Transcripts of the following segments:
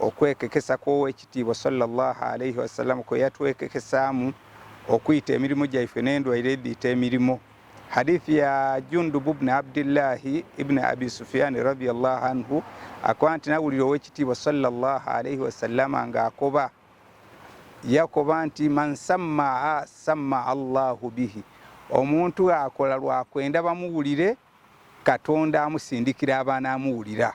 Okwekekesa kw'Owekitiibwa swalla Llaahu alaihi wasallam kwe yatwekekesaamu okuyita emirimu gyaife n'endwaire edhiita emirimu. Hadiith ya Jundubu bni Abdillaahi ibni Abi Sufyaani radhiya Llaahu anhu akoba nti, nawulira Owekitiibwa swalla Llaahu alaihi wasallama nga akoba, yakoba nti, Man samma'a samma'a Llaahu bihi, omuntu akola lwa kwenda bamuwulire, Katonda amusindikira abanaamuwulira.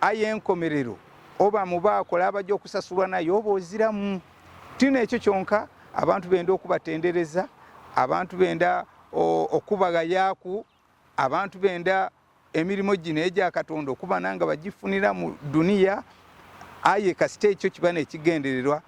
aye enkomerero oba muba akola abaja okusasulwa naye oba oziramu tino ekyo kyonka abantu benda okubatendereza abantu benda okubagayaku abantu benda emirimu gino egya katonda okuba nanga bagifunira mu duniya aye kasita ekyo kiba nekigendererwa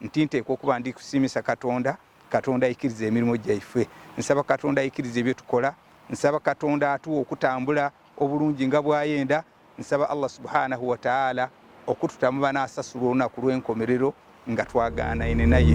nti nteekwa okuba ndi kusiimisa katonda katonda ayikiriza emirimu gyaife nsaba katonda ayikiriza ebyo tukola nsaba katonda atuwa okutambula obulungi nga bwayenda nsaba allah subhanahu wataala okututamu banaasasula olunaku lw'enkomerero nga twagaanaine naye